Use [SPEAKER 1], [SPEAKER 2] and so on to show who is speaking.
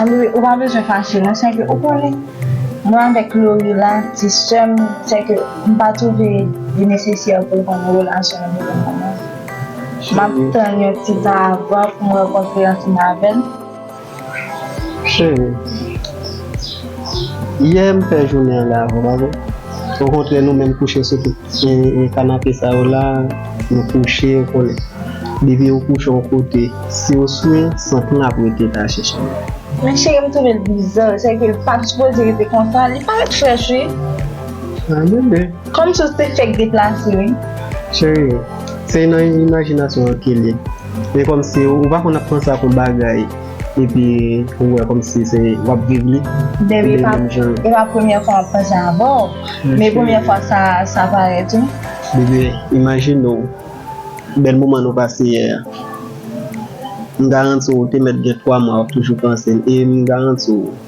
[SPEAKER 1] Anmweyy
[SPEAKER 2] ou pa bezwen fache non sèke ou konnen mwen avèk Lorie la ti sèm sèke m pa twouve li nesesè pou mwen nan relasyon an pou le moman map tann yon ti tan avan pou m rankontre ansanm avèl.
[SPEAKER 1] Chérie yè m fè jounen an lè avèw pa vre ou kontre nou menm kouche sou kou. E kanape sa yo la nou kouche ou konnen depi ou kouche yon kote si ou swe sant lan ap rete ta chèche nou. Men cheri
[SPEAKER 2] m trouve l bizarre se ke l pat supoze rete konsa li paret fresh wi. Ah
[SPEAKER 1] bebe. Kòmsi ou te fèk
[SPEAKER 2] deplase wi. Cheri
[SPEAKER 1] se nan imajinasyon an ke l ye men kòmsi ou pa konn ap panse ak yon bagay. Epi ou wè komsi se wap viv li. Baby
[SPEAKER 2] e pa premye fwa map panse avèw men premye fwa sa parèt wi. Bebe
[SPEAKER 1] imajine w bèl moman nou pase yè a m garanti w ou te mèt gen 3 mwa wap toujou panse l e m garanti w